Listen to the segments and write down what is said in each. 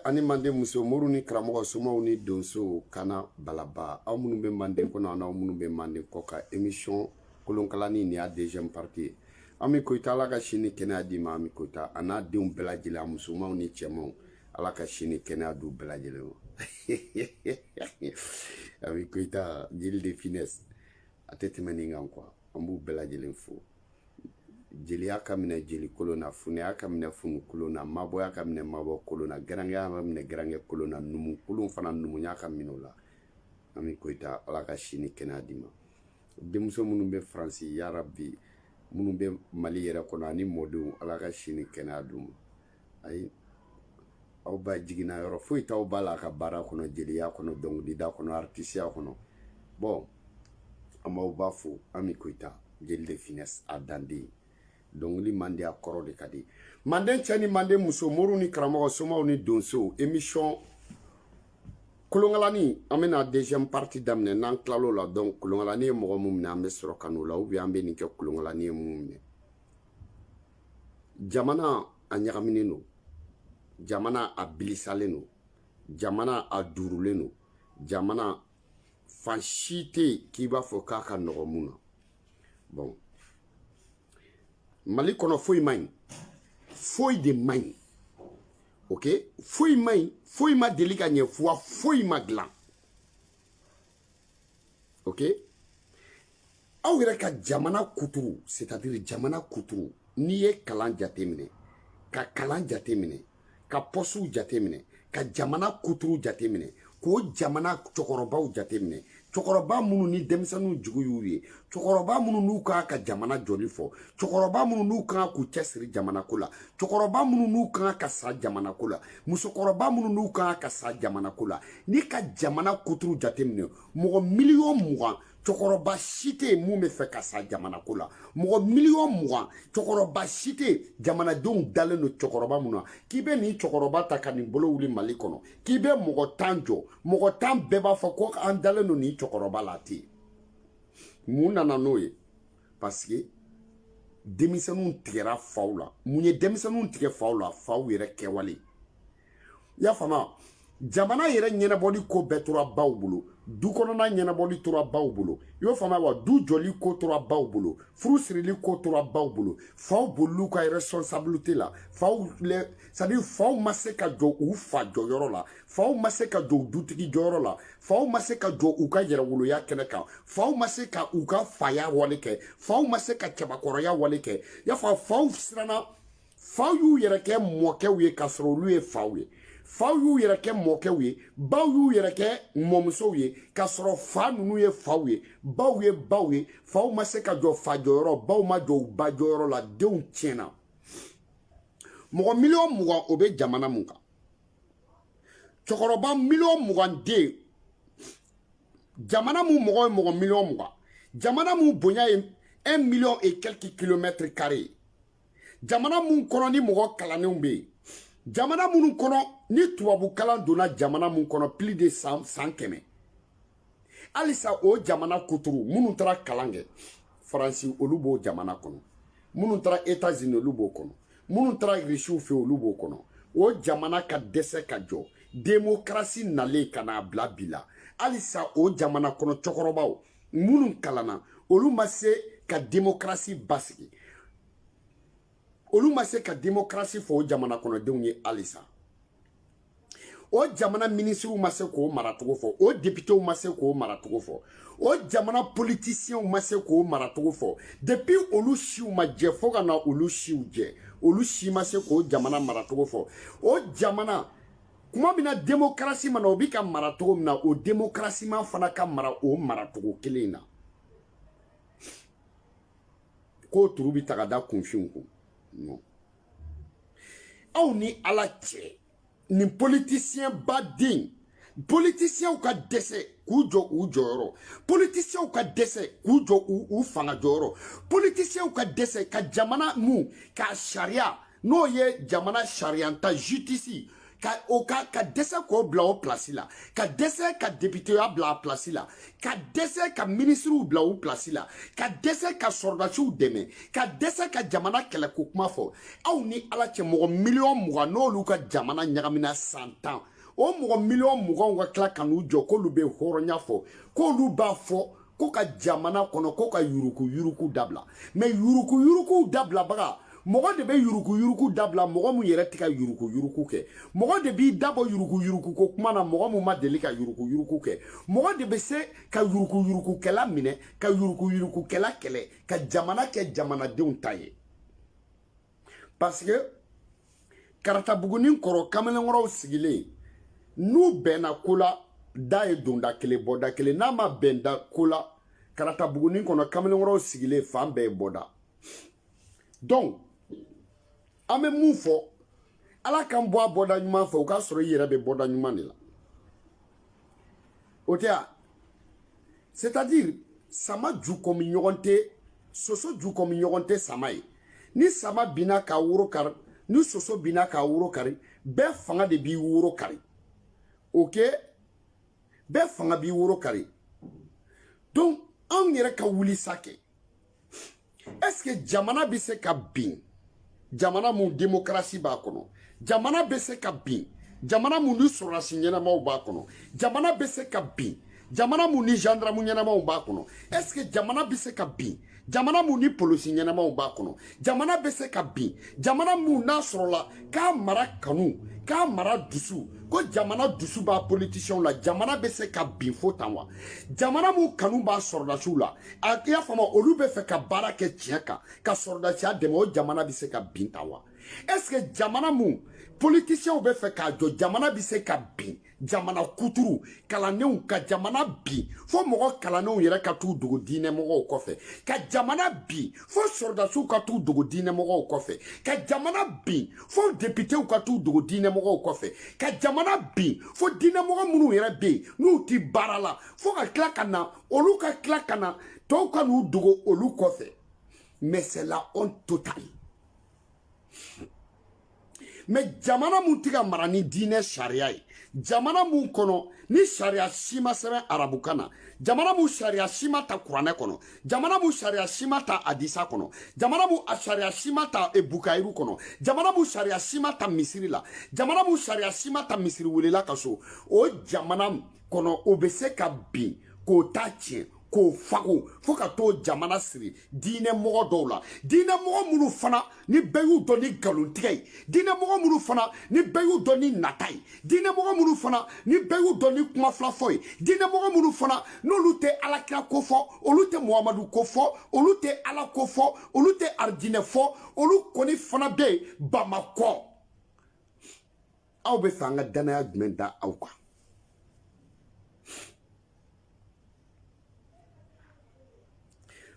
ani manden muso moriw ni karamɔgɔ somaw ni donsow kana balaba aw minnu bɛ manden kɔnɔ an'aw minnu bɛ manden kɔkan emisiyɔn kolonkalani nin y'a deuxième partie ye ami koyita ala ka si ni kɛnɛya d'i ma ami koyita a n'a denw bɛɛ lajɛlen a musomanw ni cɛmanw ala ka si ni kɛnɛya d'u bɛɛ lajɛlen ma ami koyita jeli de finesse a tɛ tɛmɛ nin kan quoi an b'u bɛɛ lajɛlen fo jeliya ka minɛ jeli kolon na funɛya ka minɛ funɛ kolon na mabɔya ka minɛ mabɔ kolon na garankɛya ka minɛ garankɛ kolon na numu kolon fana numuya ka minɛ o la ami koyita ala ka si ni kɛnɛya d'i ma denmuso minnu bɛ faransi yarabi minnu bɛ mali yɛrɛ kɔnɔ ani mɔdenw ala ka si ni kɛnɛya d'u ma ayi aw ba jiginna yɔrɔ foyi t'aw ba la a ka baara kɔnɔ jeliya kɔnɔ dɔnkilida kɔnɔ aritisiya kɔnɔ bon an b'aw ba fo ami koyita jeli de finesse a danden dɔnkili man di a kɔrɔ de ka di manden cɛ ni manden muso moriw ni karamɔgɔ somaw ni donsow emisiyɔn kolonkalani an bɛna deuxième partie daminɛ n'an tilal'o la donc kolonkalani ye mɔgɔ mun minɛ an bɛ sɔrɔ ka n'o la ou bien an bɛ nin kɛ kolonkalani ye mun minɛ jamana a ɲagaminen don jamana a bilisalen don jamana a duurulen don jamana fan si tɛ yen k'i b'a fɔ k'a ka nɔgɔ mun na bon mali kɔnɔ foyi man ɲi foyi de man ɲi ok foyi man ɲi foyi ma deli ka ɲɛ fuwa foyi ma dilan ok aw yɛrɛ ka jamana kuturu c'est à dire jamana kuturu n'i ye kalan jateminɛ ka kalan jateminɛ ka pɔsiw jateminɛ ka jamana kuturu jateminɛ k'o jamana cɛkɔrɔbaw jateminɛ cɛkɔrɔba minnu ni denmisɛnninw jigi y'u ye cɛkɔrɔba minnu n'u ka kan ka jamana jɔli fɔ cɛkɔrɔba minnu n'u ka kan k'u cɛsiri jamanako la cɛkɔrɔba minnu n'u ka kan ka sa jamanako la musokɔrɔba minnu n'u ka kan ka sa jamana ko la n'i ka jamana kuturu jateminɛ mɔgɔ miliyɔn mugan cɛkɔrɔba si tɛ yen mun bɛ fɛ ka sa jamana ko la mɔgɔ miliyɔn mugan cɛkɔrɔba si tɛ yen jamanadenw dalen don cɛkɔrɔba mun na k'i bɛ nin cɛkɔrɔba ta ka nin bolo wuli mali kɔnɔ k'i bɛ mɔgɔ tan jɔ mɔgɔ tan bɛɛ b'a fɔ ko an dalen don nin cɛkɔrɔba la tɛ yen mun nana n'o ye parce que denmisɛnninw tigɛra faw la mun ye denmisɛnninw tigɛ faw la faw yɛrɛ kɛwale i y'a faamu jamana yɛrɛ ɲɛnabɔli ko bɛɛ tora baw bolo du kɔnɔna ɲɛnabɔli tora baw bolo i y'o faamuya wa du jɔli ko tora baw bolo furu sirili ko tora baw bolo faw bolil'u ka responsabilité la faw c'est à dire faw ma se ka jɔ u fa jɔyɔrɔ la faw ma se ka jɔ dutigi jɔyɔrɔ la faw ma se ka jɔ u ka yɛrɛwoloya kɛnɛ kan faw ma se ka u ka faya wale kɛ faw ma se ka cɛbakɔrɔya wale kɛ y'a fɔ faw siranna faw y'u yɛrɛ kɛ mɔkɛw ye k'a sɔrɔ olu ye faw ye faw y'u yɛrɛ kɛ mɔkɛw ye baw y'u yɛrɛ kɛ mɔmusow ye k'a sɔrɔ fa ninnu ye faw ye baw ye baw ye faw ma se ka jɔ fa jɔyɔrɔ baw ma jɔ u ba jɔyɔrɔ la denw tiɲɛna mɔgɔ miliyɔn mugan o bɛ jamana mun kan cɛkɔrɔba miliyɔn mugan de ye jamana mun mɔgɔ ye mɔgɔ miliyɔn mugan jamana mun bonya ye un million et quelques kilomètres carrés jamana mun kɔnɔ ni mɔgɔ kalannenw bɛ yen jamana minnu kɔnɔ ni tubabu kalan donna jamana mun kɔnɔ plus de san san kɛmɛ halisa o jamana kuturu minnu taara kalan kɛ faransi olu b'o jamana kɔnɔ minnu taara etazini olu b'o kɔnɔ minnu taara irisiw fɛ olu b'o kɔnɔ o jamana ka dɛsɛ ka jɔ demokarasi nalen ka n'a bila bi la halisa o jamana kɔnɔ cɛkɔrɔbaw minnu kalanna olu ma se ka demokarasi basigi olu ma se ka demokarasi fɔ o jamana kɔnɔdenw ye halisa o jamana minisiriw ma se k'o maracogo fɔ o depitew ma se k'o maracogo fɔ o jamana politisiyɛnw ma se k'o maracogo fɔ depi olu siw ma jɛ fo ka na olu siw jɛ olu si ma se k'o jamana maracogo fɔ o jamana kuma min na demokarasi ma na o bi ka mara cogo min na o demokarasiman fana ka mara o maracogo kelen in na k'o turu bi ta ka da kunfinw kun non aw ni ala cɛ nin politisiyɛn baden politisiyɛnw ka dɛsɛ k'u jɔ u jɔyɔrɔ politisiyɛnw ka dɛsɛ k'u jɔ u fanga jɔyɔrɔ politisiyɛnw ka dɛsɛ ka jamana mun ka sariya n'o ye jamana sariyanta jusitisi ka o ka ka dɛsɛ k'o bila o pilasi la ka dɛsɛ ka depiteya bila a pilasi la ka dɛsɛ ka minisiriw bila u pilasi la ka dɛsɛ ka sɔrɔdasiw dɛmɛ ka dɛsɛ ka jamana kɛlɛ ko kuma fɔ aw ni ala cɛ mɔgɔ miliyɔn mugan n'olu ka jamana ɲagamina san tan o mɔgɔ miliyɔn muganw ka tila ka n'u jɔ k'olu bɛ hɔrɔnya fɔ k'olu b'a fɔ ko ka jamana kɔnɔ ko ka yuruku yuruku dabila mɛ yuruku yuruku dabilabaga mɔgɔ de bɛ yuruku yuruku dabila mɔgɔ min yɛrɛ tɛ ka yuruku yuruku kɛ mɔgɔ de b'i dabɔ yuruku yuruku ko kuma na mɔgɔ min ma deli ka yuruku yuruku kɛ mɔgɔ de bɛ se ka yuruku yuruku kɛla minɛ ka yuruku yuruku kɛla kɛlɛ ka jamana kɛ jamanadenw ta ye parce que karatabugunin kɔrɔ kamalenkɔrɔw sigilen n'u bɛnna ko la da ye donda kelen bɔda kelen n'a ma bɛn da ko la karatabugunin kɔnɔ kamalenkɔrɔw sigilen fan bɛɛ ye bɔda donc an bɛ mun fɔ ala k'an bɔ a bɔda ɲuman fɛ o k'a sɔrɔ i yɛrɛ bɛ bɔda ɲuman de la o tɛ ya c'est à dire sama ju kɔmi ɲɔgɔn tɛ soso ju kɔmi ɲɔgɔn tɛ sama ye ni sama binna k'a woro kari ni soso binna k'a woro kari bɛɛ fanga de b'i woro kari ok bɛɛ fanga b'i woro kari donc anw yɛrɛ ka wuli sa kɛ est ce que jamana bɛ se ka bin jamana mun demokarasi b'a kɔnɔ jamana bɛ se ka bin jamana mun ni sɔrɔdasi ɲɛnamaw b'a kɔnɔ jamana bɛ se ka bin jamana mun ni gendarme ɲɛnamaw b'a kɔnɔ est ce que jamana bɛ se ka bin jamana mun ni polisi ɲɛnamaw b'a kɔnɔ jamana bɛ se ka bin jamana mun n'a sɔrɔla k'a mara kanu k'a mara dusu ko jamana dusu b'a politisiɲɛw la jamana bɛ se ka bin fo tan wa jamana mun kanu b'a sɔrɔdasiw la a i y'a faamu olu bɛ fɛ ka baara kɛ tiɲɛ kan ka sɔrɔdasiya dɛmɛ o jamana bɛ se ka bin tan wa est ce que jamana mun politisiɲɛw bɛ fɛ k'a jɔ jamana bɛ se ka bin jamana kuturu kalannenw ka jamana bin fo mɔgɔ kalannenw yɛrɛ ka t'u dogo diinɛmɔgɔw kɔfɛ ka jamana bin fo sɔrɔdasiw ka t'u dogo diinɛmɔgɔw kɔfɛ ka jamana bin fo depitew ka t'u dogo diinɛmɔgɔw kɔfɛ ka jamana bin fo diinɛmɔgɔ minnu yɛrɛ bɛ yen n'u ti baara la fo ka tila ka na olu ka tila ka na tɔw ka n'u dogo olu kɔfɛ mais c'est la honte totale mais jamana mun tɛ ka mara ni diinɛ sariya ye jamana mun kɔnɔ ni sariya si ma sɛbɛn arabukan na jamana mun sariya si ma ta kuranɛ kɔnɔ jamana mun sariya si ma ta hadisa kɔnɔ jamana mun sariya si ma ta e, bukayiru kɔnɔ jamana mun sariya si ma ta misiri la jamana mun sariya si ma ta misiri welela ka so o jamana kɔnɔ o bɛ se ka bin k'o ta tiɲɛ k'o fago fo ka t'o jamana siri diinɛmɔgɔ dɔw la diinɛmɔgɔ minnu fana ni bɛɛ y'u dɔn ni nkalontigɛ ye diinɛmɔgɔ minnu fana ni bɛɛ y'u dɔn ni nata ye diinɛmɔgɔ minnu fana ni bɛɛ y'u dɔn ni kuma fila fɔ ye diinɛmɔgɔ minnu fana n'olu tɛ alakira ko fɔ olu tɛ muhamadu ko fɔ olu tɛ ala ko fɔ olu tɛ arijinɛ fɔ olu kɔni fana bɛ yen bamakɔ aw bɛ fɛ an ka danaya jumɛn da aw kan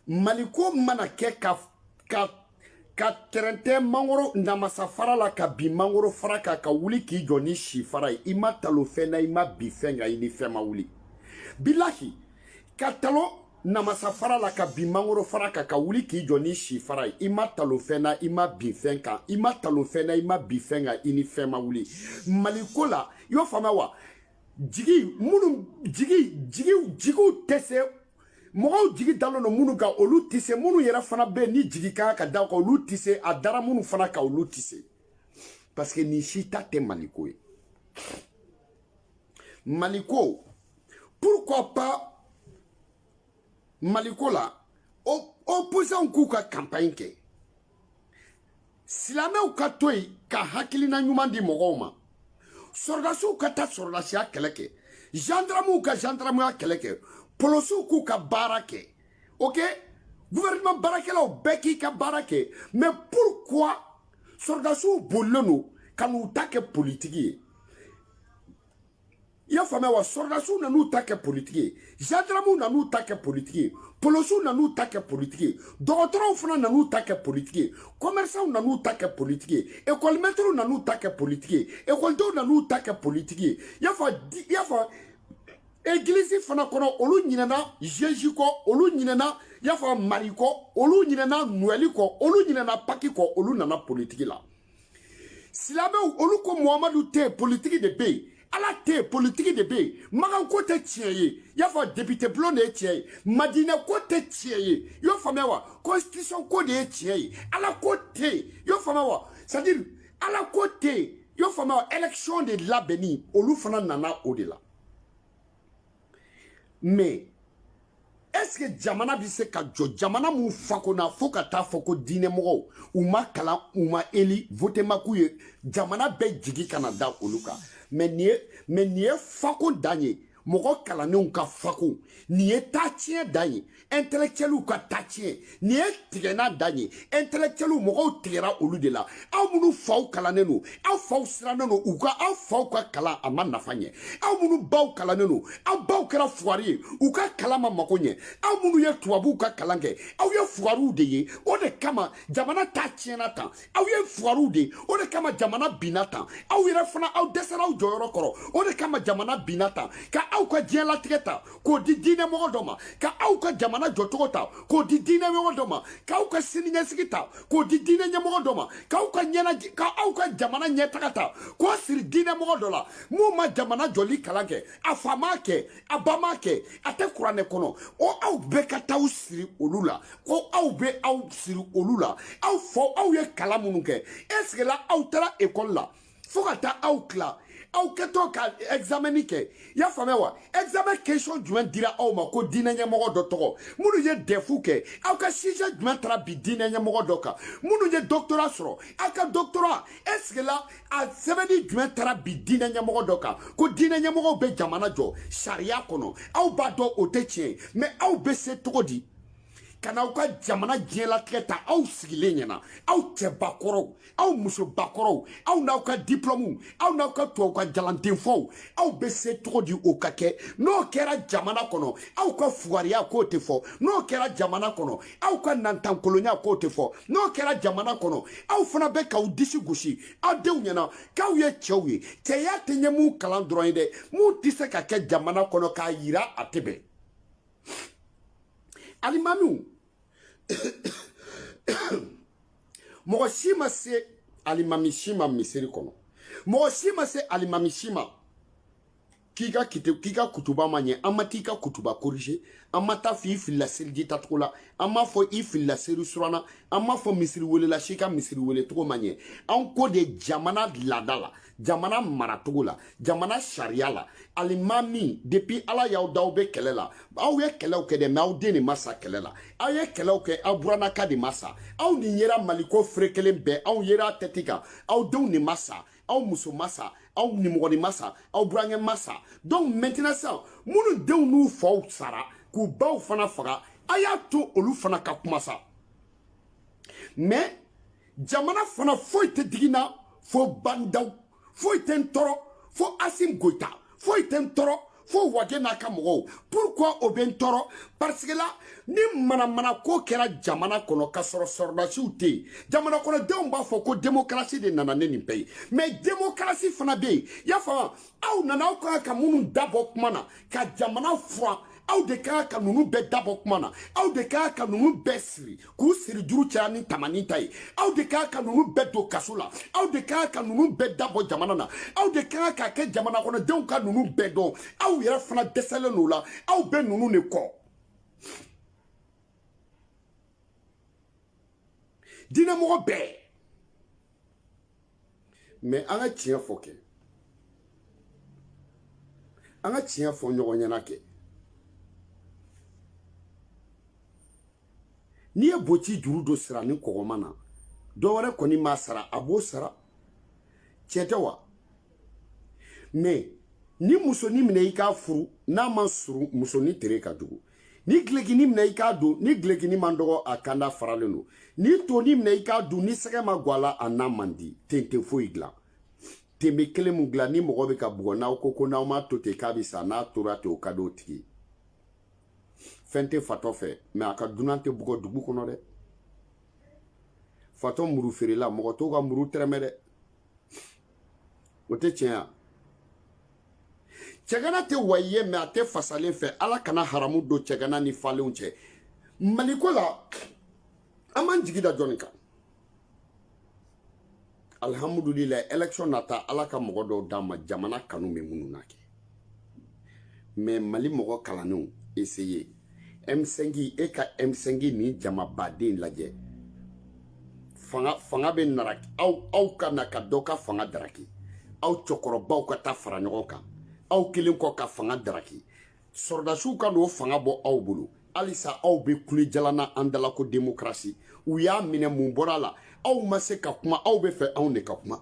maliko mana kɛ ka tɛrɛntɛ mangoro namasa fara la ka bin mangoro fara kan ka wuli k'i jɔ ni si fara ye i ma talo fɛn na i ma bin fɛn kan i ni fɛn ma wuli bilahi ka talo namasa fara la ka bin mangoro fara kan ka wuli k'i jɔ ni si fara ye i ma talo fɛn na i ma bin fɛn kan i ma talo fɛn na i ma bin fɛn kan i ni fɛn ma wuli maliko la i y'o faamuya wa jigi jigiw tɛ se mɔgɔw jigi dalen don minnu kan olu tɛ se minnu yɛrɛ fana bɛ yen ni jigi ka kan ka da kan olu tɛ se a dara minnu fana kan olu tɛ se parce que nin si ta tɛ maliko ye maliko pourquoi pas maliko la opposants k'u ka campagne kɛ silamɛw ka to yen ka hakilina ɲuman di mɔgɔw ma sɔrɔdasiw ka taa sɔrɔdasiya kɛlɛ kɛ gendarmew ka gendarmeya kɛlɛ kɛ polosiw k'u ka baara kɛ ok gouvernement baarakɛlaw bɛɛ k'i ka baara kɛ mais pourquoi sɔrɔdasiw bolilen don ka n'u ta kɛ politiki ye i y'a faamuya wa sɔrɔdasiw nan'u ta kɛ politiki ye gendarmew nan'u ta kɛ politiki ye polosiw nan'u ta kɛ politiki ye dɔgɔtɔrɔw fana nan'u ta kɛ politiki ye kɔmɛrisanw nan'u ta kɛ politiki ye ekɔlimɛtiriw nan'u ta kɛ politiki ye ekɔlidenw nan'u ta kɛ politiki ye i y'a fɔ egilisi fana kɔnɔ olu ɲinɛna zezu kɔ olu ɲinɛna i y'a fɔ mari kɔ olu ɲinɛna nowɛli kɔ olu ɲinɛna paki kɔ olu nana politiki la silamɛw olu ko muhamadu tɛ politiki de bɛ yen ala tɛ politiki de bɛ yen magan ko tɛ tiɲɛ ye i y'a fɔ depite bulon de ye tiɲɛ ye madinɛ ko tɛ tiɲɛ ye i y'o faamuya wa constitution ko de ye tiɲɛ ye ala ko tɛ yen i y'o faamuya wa c'est à dire ala ko tɛ yen i y'o faamuya wa élection de labɛnni olu fana nana o de la. mais est ce que jamana bɛ se ka jɔ jamana min fakonna fo ka t'a fɔ ko diinɛmɔgɔw u ma kalan u ma élu vote ma k'u ye jamana bɛɛ jigi ka na da olu kan mais nin ye mais nin ye fakon dan ye mɔgɔ kalannenw ka fakon nin ye ta tiɲɛ dan ye intellectuels ka ta tiɲɛ nin ye tigɛna dan ye intellectuels mɔgɔw tigɛra olu de la aw minnu faw kalannen don aw faw sirannen don u ka aw faw ka kalan a ma nafa ɲɛ aw minnu baw kalannen don aw baw kɛra fugari ye u ka kalan ma mako ɲɛ aw minnu ye tubabuw ka kalan kɛ aw ye fugariw de ye o de kama jamana ta tiɲɛna tan aw ye fugariw de o de kama jamana binna tan aw yɛrɛ fana aw dɛsɛra aw jɔyɔrɔ kɔrɔ o de kama jamana binna tan ka aw ka diɲɛlatigɛ ta k'o di diinɛmɔgɔ dɔ ma ka aw ka jamana jɔcogo ta k'o di diinɛmɔgɔ dɔ ma k'aw ka siniɲɛsigi ta k'o di diinɛ ɲɛmɔgɔ dɔ ma ka aw ka jamana ɲɛtaga ta k'o siri diinɛmɔgɔ dɔ la min ma jamana jɔli kalan kɛ a fa m'a kɛ a ba m'a kɛ a tɛ kuranɛ kɔnɔ o aw bɛɛ ka taa aw siri olu la ko aw bɛ aw siri olu la aw fɔ aw ye kalan minnu kɛ ɛsike la aw taara ekɔli la fo ka taa aw tila aw kɛtɔ ka ɛgizamɛni kɛ i y'a faamuya wa ɛgizamɛn kesiyɔn jumɛn dira aw ma ko diinɛ ɲɛmɔgɔ dɔ tɔgɔ minnu ye dɛfu kɛ aw ka sijɛ jumɛn taara bi diinɛ ɲɛmɔgɔ dɔ kan minnu ye dɔktora sɔrɔ aw ka dɔktora ɛsike la a sɛbɛnni jumɛn taara bi diinɛ ɲɛmɔgɔ dɔ kan ko diinɛ ɲɛmɔgɔw bɛ jamana jɔ sariya kɔnɔ aw b'a dɔn o tɛ tiɲɛ mɛ aw bɛ se cogo di ka n'aw ka jamana diɲɛlatigɛ ta aw sigilen ɲɛna aw cɛbakɔrɔw aw musobakɔrɔw aw n'aw ka diplɔmuw aw n'aw ka tubabukan jalandenfɔw aw bɛ se cogo di o ka kɛ n'o kɛra jamana kɔnɔ aw ka fugariya k'o tɛ fɔ n'o kɛra jamana kɔnɔ aw ka nantankolonya k'o tɛ fɔ n'o kɛra jamana kɔnɔ aw fana bɛ k'aw disi gosi aw denw ɲɛna k'aw ye cɛw ye cɛya tɛ ɲɛ mun kalan dɔrɔn ye dɛ mun tɛ se ka kɛ jamana kɔnɔ k'a yira a tɛ bɛn alimamiw mɔgɔ si ma se alimami si ma misiri kɔnɔ mɔgɔ si ma se alimami si ma k'i ka kutuba ma ɲɛ an ma t'i ka kutuba korije an ma taa f'i filila seriji tacogo la an m'a fɔ i filila seri suran na an m'a fɔ misiri welela si ka misiri wele cogo ma ɲɛ an ko de jamana laada la jamana maracogo la jamana sariya la alimami depuis ala y'aw da aw bɛ kɛlɛ la aw ye kɛlɛw kɛ dɛ mɛ aw den de ma sa kɛlɛ la aw ye kɛlɛw kɛ aw buranaka de ma sa aw nin yera maliko ferekelen bɛɛ aw yera tɛti kan aw denw de ma sa aw muso ma sa aw nimɔgɔni ma sa aw burankɛ ma sa donc maintenant sisan minnu denw n'u faw sara k'u baw fana faga a y'a to olu fana ka kuma sa mais jamana fana foyi tɛ digi n na fo ba ndaw foyi tɛ n tɔɔrɔ fo asim goyita foyi tɛ n tɔɔrɔ fo wage n'a ka mɔgɔw pourquoi o bɛ n tɔɔrɔ parce que la ni manamanako kɛra jamana kɔnɔ ka sɔrɔ sɔrɔdasiw tɛ yen jamana kɔnɔdenw b'a fɔ ko démocratie de nana ni nin bɛɛ ye mais démocratie fana bɛ yen i y'a faamu aw nana aw ka kan ka minnu dabɔ kuma na ka jamana furan aw de ka kan ka ninnu bɛɛ dabɔ kuma na aw de ka kan ka ninnu bɛɛ siri k'u siri juru caya ni tamani ta ye aw de ka kan ka ninnu bɛɛ don kaso la aw de ka kan ka ninnu bɛɛ dabɔ jamana na aw de ka kan k'a kɛ jamana kɔnɔdenw ka ninnu bɛɛ dɔn aw yɛrɛ fana dɛsɛlen don o la aw bɛ ninnu de kɔ diinɛmɔgɔ bɛɛ mɛ an ka tiɲɛ fɔ kɛ an ka tiɲɛ fɔ ɲɔgɔn ɲɛna kɛ n'i ye boci juru dɔ sara ni kɔgɔma na dɔ wɛrɛ kɔni m'a sara a b'o sara tiɲɛ tɛ wa mɛ ni musonin minɛ i k'a furu n'a ma surun musonin tere ka jugu ni gilekini minɛ i k'a don ni gilekini man dɔgɔ a kanda faralen don ni tonin minɛ i k'a dun ni sɛgɛ ma gwan a la a na man di ten tɛ foyi dilan ten bɛ kelen min dilan ni mɔgɔ bɛ ka bugɔ n'aw ko ko n'aw m'a to ten k'a bɛ sa n'a tora ten o ka di o tigi fɛn tɛ fatɔ fɛ mɛ a ka dunan tɛ bugɔ dugu kɔnɔ dɛ fatɔ muru feerela mɔgɔ t'o ka muru tɛrɛmɛ dɛ o tɛ tiɲɛ ya cɛgana tɛ wayi ye mɛ a tɛ fasalen fɛ ala kana haramu don cɛgana ni falenw cɛ maliko la an b'an jigi da jɔnni kan alihamudulilayi election nata ala ka mɔgɔ dɔw d'an ma jamana kanu bɛ minnu na kɛ mɛ mali mɔgɔ kalannenw eseye M5 e ka M5 nin jamaba de lajɛ fanga fanga bɛ nara aw aw ka na ka dɔ ka fanga daraki aw cɛkɔrɔbaw ka taa fara ɲɔgɔn kan aw kelen kɔ ka fanga daraki sɔrɔdasiw ka n'o fanga bɔ aw bolo halisa aw bɛ kule jalan na an da la ko demokarasi u y'a minɛ mun bɔra a la aw ma se ka kuma aw bɛ fɛ anw de ka kuma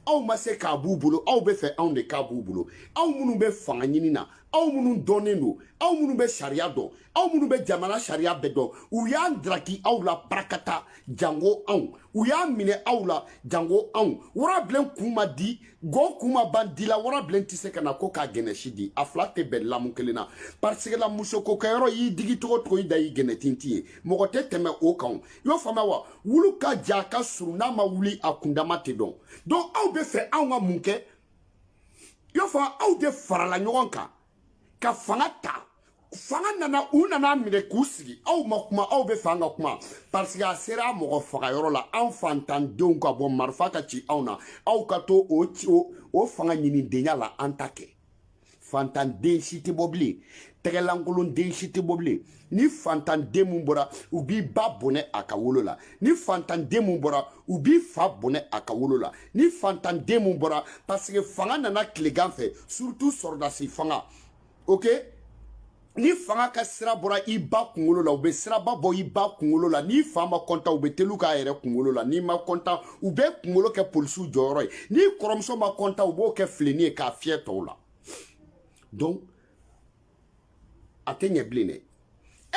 aw ma se k'a b'u bolo aw bɛ fɛ anw de k'a b'u bolo aw minnu bɛ fanga ɲini na aw minnu dɔnnen don aw minnu bɛ sariya dɔn aw minnu bɛ jamana sariya bɛɛ dɔn u y'a daraki aw la barakata jango anw u y'a minɛ aw la jango anw warabilen kun ma di gɔn kun ma ban di la warabilen tɛ se ka na ko k'a gɛnɛsi di a fila tɛ bɛn lamu kelen na pariseke la musoko kɛyɔrɔ y'i digi cogo o cogo i dan y'i gɛnɛtinti ye mɔgɔ tɛ tɛmɛ o kan i y'o faamuya wa wulu ka jan ka surun n'a ma wuli a kundama tɛ dɔn donc aw bɛ fɛ anw ka mun kɛ i y'o faamu aw de farala ɲɔgɔn kan ka fanga ta fanga nana u nan'a minɛ k'u sigi aw ma kuma aw bɛ fɛ an ka kuma parce que a sera mɔgɔ faga yɔrɔ la an fantandenw ka bɔ marifa ka ci anw na aw ka to o fanga ɲinidenya la an t'a kɛ fantanden si tɛ bɔ bilen tɛgɛlankolonden si tɛ bɔ bilen ni fantanden min bɔra u b'i ba bɔnɛ a ka wolo la ni fantanden min bɔra u b'i fa bɔnɛ a ka wolo la ni fantanden min bɔra paseke fanga nana tilegan fɛ surutu sɔrɔdasi fanga ok ni fanga ka sira bɔra i ba kunkolo la u bɛ siraba bɔ i ba kunkolo la n'i fa ma kɔntan u bɛ telu k'a yɛrɛ kunkolo la n'i ma kɔntan u b'i kunkolo kɛ polisiw jɔyɔrɔ ye n'i kɔrɔmuso ma kɔntan u b'o kɛ filenin ye k'a fiyɛ tɔw la donc a tɛ ɲɛ bilen dɛ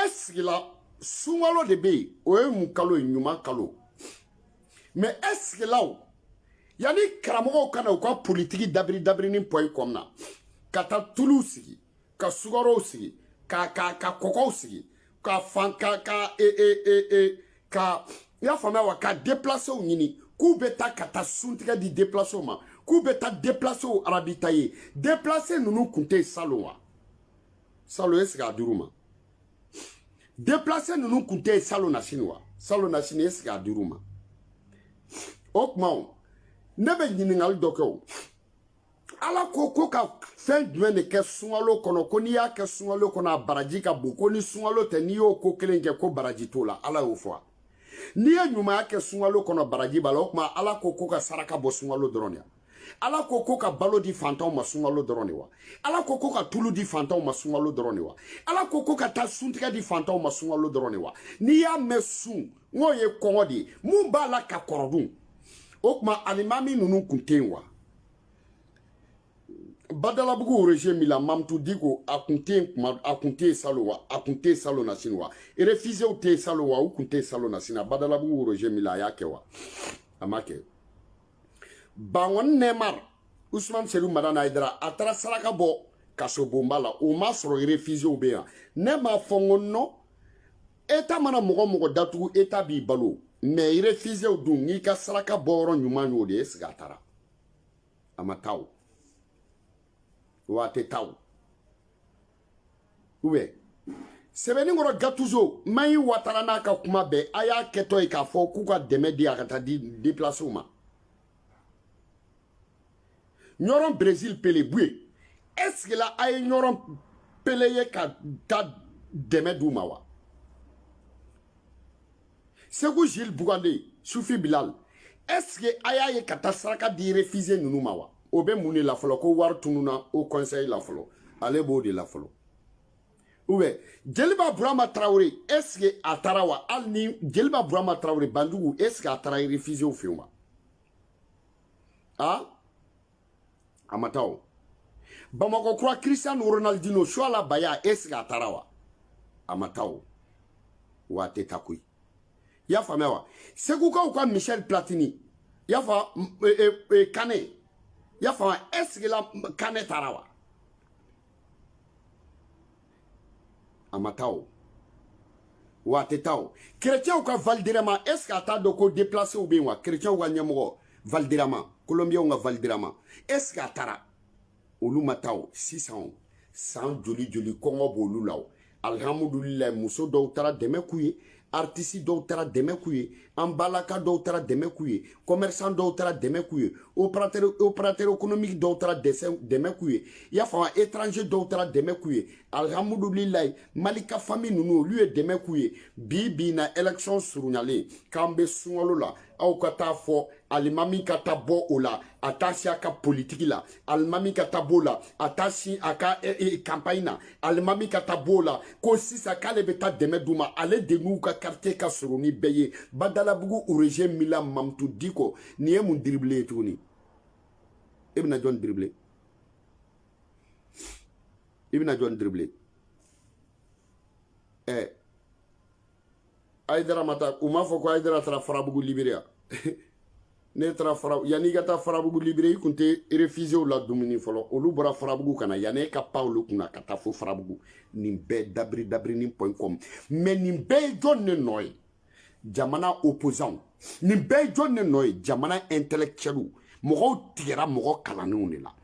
e sigila sunkalo de bɛ yen o ye mun kalo ye ɲuman kalo mɛ e sigila yanni karamɔgɔw ka na u ka politiki dabiri dabirinin pɔyi kɔnɔna ka taa tuluw sigi ka sukarow sigi ka ka ka kɔkɔw sigi ka fan ka ka e e e e ka i y'a faamuya wa ka deplasew ɲini k'u bɛ taa ka taa suntigɛ di deplasew ma k'u bɛ taa deplasew arabitaye deplase ninnu kun tɛ yen salon wa salon ɛsike a dir'u ma deplase ninnu kun tɛ yen salon na sini wa salon na sini ɛsike a dir'u ma o tuma o ne bɛ ɲininkali dɔ kɛ o ala ko ko ka fɛn jumɛn de kɛ sunkalo kɔnɔ ko n'i y'a kɛ sunkalo kɔnɔ a baraji ka bon ko ni sunkalo tɛ n'i y'o ko kelen kɛ ko baraji t'o la ala y'o fɔ wa n'i ye ɲumanya kɛ sunkalo kɔnɔ baraji b'a la o tuma ala ko ko ka saraka bɔ sunkalo dɔrɔn de wa ala ko ko ka balo di fantanw ma sunkalo dɔrɔn de wa ala ko ko ka tulu di fantanw ma sunkalo dɔrɔn de wa ala ko ko ka taa suntigɛ di fantanw ma sunkalo dɔrɔn de wa n'i y'a mɛn sun n k'o ye kɔngɔ de ye mun b'a la ka kɔrɔ dun o tuma alimami ninnu kun tɛ yen wa badalabugu roger milla mamutu diko a kun tɛ yen kuma a kun tɛ yen salo wa a kun tɛ yen salo na sini wa refusew tɛ yen salo wa u kun tɛ yen salo na sini badalabugu roger milla a y'a kɛ wa a ma kɛ bankɔni neymar usman sedu madani ayidara a taara saraka bɔ kasobonba la o ma sɔrɔ refusew bɛ yan ne m'a fɔ n ko nɔ eta mana mɔgɔ o mɔgɔ datugu eta b'i balo mɛ refisew dun n'i ka saraka bɔyɔrɔ ɲuman y'o de ye ɛsike a taara a ma taa o wa a tɛ taa o ubiyɛn sebeninkɔrɔ gatuzo mayi watara n'a ka kuma bɛɛ a y'a kɛtɔ ye k'a fɔ k'u ka dɛmɛ di a ka taa di depilasew ma ɲɔrɔn brezil pele buye ɛsike la a ye ɲɔrɔn pele ye ka taa dɛmɛ d'u ma wa segu jules bocande sufi bilal ɛsike a y'a ye ka taa saraka di refize ninnu ma wa o bɛ mun de la fɔlɔ ko wari tununna o kɔnsɛyi la fɔlɔ ale b'o de la fɔlɔ ubiyɛn jeliba burama tarawele ɛsike a taara wa hali ni jeliba burama tarawele banjugu ɛsike a taara refizew fɛ yen wa a a ma taa o bamakɔ kura christian ronaldino suala baya est ce que a taara wa a ma taa o wa a tɛ taa koyi i y'a faamuya wa segukaw ka michel platini i y'a fa e, e, e, kane i y'a faamuya est ce que la kane taara wa a ma taa o wa a tɛ taa o kerecɛnw ka valderrama est ce que a t'a dɔn ko deplacew bɛ yen wa kerecɛnw ka ɲɛmɔgɔ valderrama kolonbiyɛnw ka valderrama est ce que a taara olu ma taa o sisan o san joli joli kɔngɔ b'olu la o alihamudulilayi muso dɔw taara dɛmɛ k'u ye artisi dɔw taara dɛmɛ k'u ye an balaka dɔw taara dɛmɛ k'u ye commerçant dɔw taara dɛmɛ k'u ye opérateur économique dɔw taara dɛmɛ k'u ye i y'a faamu étranger dɔw taara dɛmɛ k'u ye alihamudulilayi mali ka fami ninnu olu ye dɛmɛ k'u ye bi bi na élection surunyalen k'an bɛ sunkalo la aw ka taa fɔ alimami ka ta bɔ o la a t'a si a ka politiki la alimami ka ta b'o la a t'a si a ka eh, eh, campagne na alimami ka ta b'o la ko sisan k'ale bɛ taa dɛmɛ d'u ma ale de n'u ka quartier ka surun nin bɛɛ ye badalabugu origin mila mamutu diko nin ye mun diribile ye tuguni e bɛna jɔn diribile i bɛna jɔn diribile ɛɛ eh, ayidara ma taa u m'a fɔ ko ayidara taara farabugu libiriya ne taara fara yanni i ka taa farabugu libérer i kun tɛ réfugiés ladumuni fɔlɔ olu bɔra farabugu ka na yanni e ka pan olu kunna ka taa fo farabugu nin bɛɛ dabiri dabiri ni point com mais nin bɛɛ ye jɔn ne nɔ ye jamana opposant nin bɛɛ ye jɔn ne nɔ ye jamana intellectuel mɔgɔw tigɛra mɔgɔ kalannenw de la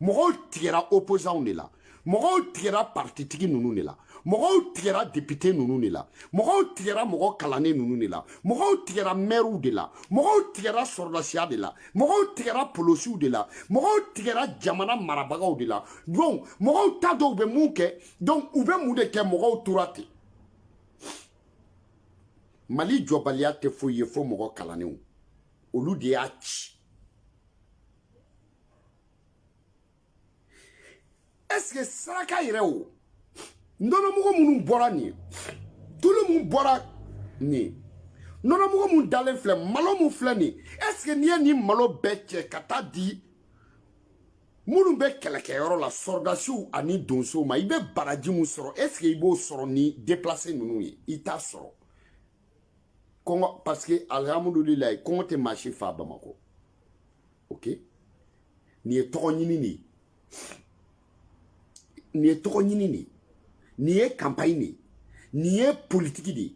mɔgɔw tigɛra opposants de la mɔgɔw tigɛra partitigi ninnu de la mɔgɔw tigɛra depite ninnu de la mɔgɔw tigɛra mɔgɔ kalannen ninnu de la mɔgɔw tigɛra mɛriw de la mɔgɔw tigɛra sɔrɔdasiya de la mɔgɔw tigɛra polosiw de la mɔgɔw tigɛra jamana marabagaw de la donc mɔgɔw t'a dɔn u bɛ mun kɛ donc u bɛ mun de kɛ mɔgɔw tora ten mali jɔbaliya tɛ foyi ye fo mɔgɔ kalannenw olu de y'a ci est-ce que saraka yɛrɛ o nɔnɔmugu minnu bɔra nin ye tulu min bɔra nin ye nɔnɔmugu mun dalen filɛ malo mun filɛ nin ye est-ce que n'i ye nin malo bɛɛ cɛ ka taa di minnu bɛ kɛlɛkɛyɔrɔ la sɔrɔdasiw ani donsow ma i bɛ baraji mun sɔrɔ est-ce que i b'o sɔrɔ ni déplacé ninnu ye i t'a sɔrɔ kɔngɔ parce que alihamudulilayi kɔngɔ tɛ maa si fa bamakɔ ok nin ye tɔgɔ ɲini de ye nin ye tɔgɔ ɲini de ye nin ye kanpaɲi de ye nin ye politiki de ye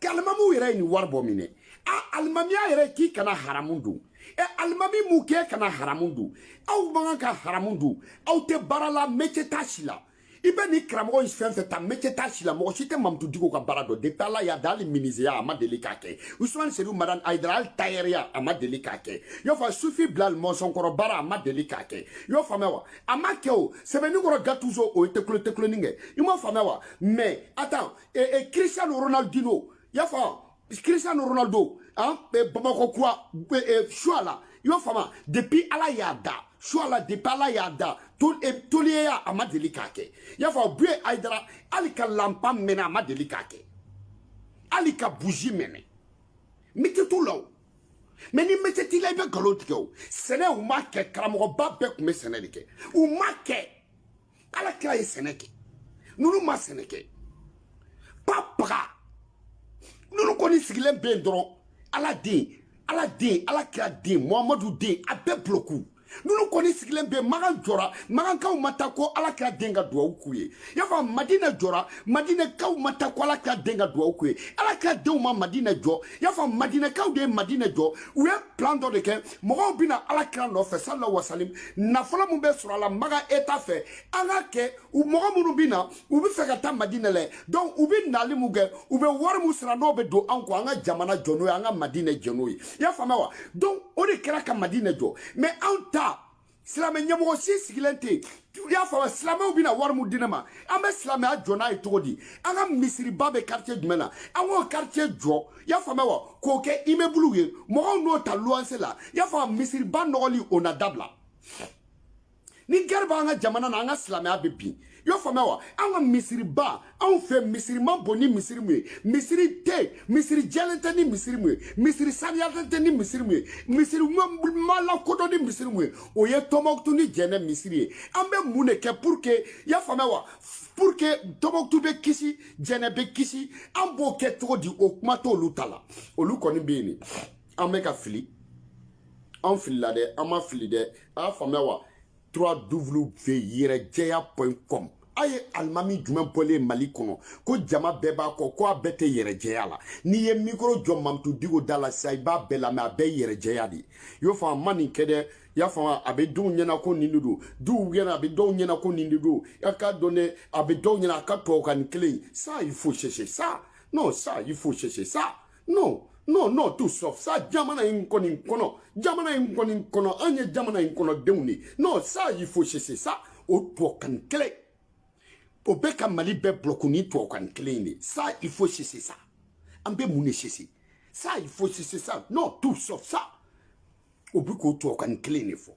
alimamiw yɛrɛ ye nin wari bɔ min dɛ a alimamiya yɛrɛ k'i kana haramu dun ɛ alimami mun k'e kana haramu dun aw man kan ka haramu dun aw tɛ baara la métier t'a si la i bɛ nin karamɔgɔ in fɛn fɛn ta métier t'a si la mɔgɔ si tɛ mamutu diko ka baara dɔn depuis ala y'a da hali minizeya a ma deli k'a kɛ usman sedu madan ayidara hali tayɛriya a ma deli k'a kɛ y'o fa sufi bilal mɔnsɔnkɔrɔ baara a ma deli k'a kɛ y'o faamuya wa a ma kɛ o sebenikɔrɔ gatuzo o ye tekule tekuleni kɛ i m'a faamuya wa mais attends e, e, cristiano ronaldino y'a faamu Cristiano Ronaldo hein, Bamako quoi euh, Chouala i y'o faamu depuis ala y'a da Chouala depuis ala y'a da toliyeya a ma deli k'a kɛ i y'a fɔ buye ayidara hali ka lanpa mɛnɛ a ma deli k'a kɛ hali ka buzi mɛnɛ métier t'u la o mais ni métier t'i la i bɛ nkalon tigɛ o sɛnɛ u m'a kɛ karamɔgɔba bɛɛ tun bɛ sɛnɛ de kɛ u m'a kɛ ala kira ye sɛnɛ kɛ ninnu ma sɛnɛ kɛ pa paga ninnu kɔni sigilen bɛ yen dɔrɔn ala den ala den ala kira den muhamadu den a bɛɛ buloku ninnu kɔni sigilen bɛ makan jɔra makankaw ma taa ko ala kira den ka duwawu k'u ye y'a fɔ madina jɔra madinɛkaw ma taa ko ala kira den ka duwawu k'u ye ala kira denw ma madina jɔ y'a fɔ madinɛkaw de ye madina jɔ u ye plan dɔ de kɛ mɔgɔw bɛ na ala kira nɔfɛ salalahu wasalim nafolo min bɛ sɔrɔ a la makan État fɛ an ka kɛ mɔgɔ minnu bɛ na u bɛ fɛ ka taa madina lɛ donc u bɛ nali min kɛ u bɛ wari min sara n'o bɛ don an kɔ an ka jamana jɔ n'o ye an ka madina jɔ n'o ye i y'a faamuya wa donc o de kɛra ka madina jɔ mais anw ta silamɛ ɲɛmɔgɔ si sigilen tɛ i y'a faamu silamɛw bɛna wari min di ne ma an bɛ silamɛya jɔ n'a ye cogo di an ka misiriba bɛ quartier jumɛn na an k'o quartier jɔ i y'a faamuya wa k'o kɛ immeuble ye mɔgɔw n'o ta luwanse la i y'a faamu misiriba nɔgɔli o na dabila ni guerre b'an ka jamana na an ka silamɛya bɛ bin i y'a faamuya wa an ka misiriba anw fɛ misiri man bon ni misiri mun ye misiri tɛ misiri jɛlen tɛ ni misiri mun ye misiri saniyalen tɛ ni misiri mun ye misiri ma lakodɔn ni misiri mun ye o ye tɔnbɔkutu ni jɛnɛ misiri ye an bɛ mun de kɛ pour que i y'a faamuya wa pour que tɔnbɔkutu bɛ kisi jɛnɛ bɛ kisi an b'o kɛ cogo di o kuma t'olu ta la olu kɔni bɛ yen de an bɛ ka fili an filila dɛ an ma fili dɛ a y'a faamuya wa trois double v yɛrɛjɛya point com a ye alimami jumɛn bɔlen ye mali kɔnɔ ko jama bɛɛ b'a kɔ ko a bɛɛ tɛ yɛrɛjɛya la n'i ye mikoro jɔ mamutu diko da la sisan i b'a bɛɛ lamɛn a bɛɛ ye yɛrɛjɛya de ye i y'o faamu a ma nin kɛ dɛ i y'a faamu a bɛ dɔw ɲɛna ko nin de don dɔw ɲɛna a bɛ dɔw ɲɛna ko nin de don a k'a dɔn dɛ a bɛ dɔw ɲɛna a ka tubabukan in kelen ça il faut cesser ça non ça il faut cesser ça non non non tout sauf ça jamana in kɔni kɔnɔ jamana in kɔni kɔnɔ an ye jamana in kɔnɔ denw de non ça il faut cesser ça o tubabukan kelen o bɛ ka mali bɛɛ bulɔku ni tubabukan kelen in de ça il faut cesser ça an bɛ mun de cesser ça il faut cesser ça non tout sauf ça o bɛ k'o tubabukan kelen de fɔ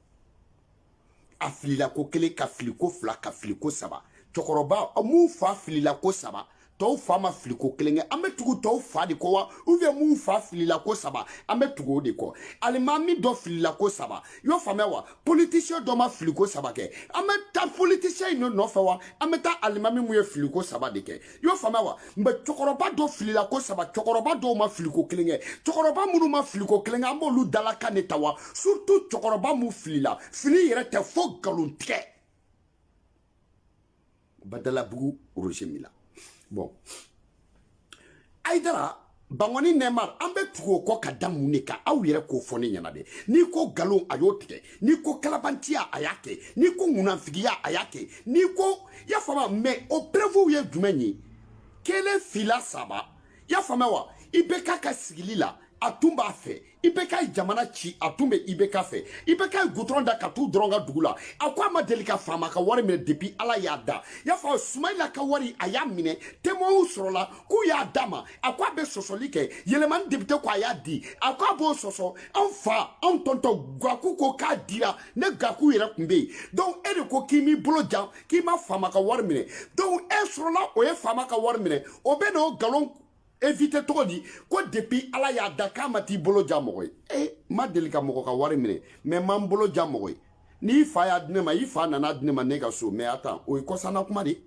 a filila ko kelen ka fili ko fila ka fili ko saba cɛkɔrɔba anw fa filila ko saba tɔw fa ma fili ko kelen kɛ an bɛ tugu tɔw fa de kɔ wa ou bien anw fa filila ko saba an bɛ tugu o de kɔ alimami dɔ filila ko saba i y'o faamuya wa politisiyɛn dɔ ma fili ko saba kɛ an bɛ taa politisiyɛn in de nɔfɛ wa an bɛ taa alimami mun ye fili ko saba de kɛ i y'o faamuya wa mɛ cɛkɔrɔba dɔ filila ko saba cɛkɔrɔba dɔw ma filiko kelen kɛ cɛkɔrɔba minnu ma filiko kelen kɛ an b'olu dalakan de ta wa surtout cɛkɔrɔba mun filila fili yɛrɛ tɛ fo nkalon tigɛ badalabugu roger mila bon ayidara bankɔni neymar an bɛ tugu o kɔ ka da mun de kan aw yɛrɛ k'o fɔ ne ɲɛna dɛ n'i ko nkalon a y'o tigɛ n'i ko kalabantiya a y'a kɛ n'i ko munafigiya a y'a kɛ n'i ko y'a faamuya mɛ o perevuw ye jumɛn ye kelen fila saba y'a faamuya wa IBK ka sigili la a tun b'a fɛ IBK ye jamana ci a tun bɛ IBK fɛ IBK ye gudɔrɔn da ka t'u dɔrɔn ka dugu la a ko a ma deli ka faama ka wari minɛ depi ala y'a da y'a fɔ sumayila ka wari a y'a minɛ témoins sɔrɔla k'u y'a d'a ma a ko a bɛ sɔsɔli kɛ yelimani depite ko a y'a di a ko a b'o sɔsɔ anw fa anw tonton gaku ko k'a dira ne gaku yɛrɛ tun bɛ yen donc e de ko k'i m'i bolo jan k'i ma faama ka wari minɛ donc e sɔrɔla o ye faama ka wari minɛ o bɛn'o nkalon evite cogo di ko depuis ala y'a da k'a ma t'i bolo ja mɔgɔ ye e ma deli ka mɔgɔ ka wari minɛ mɛ ma n bolo ja mɔgɔ ye n'i fa y'a di ne ma i fa nan'a di ne ma ne ka so mɛ attends o ye kɔsanna kuma de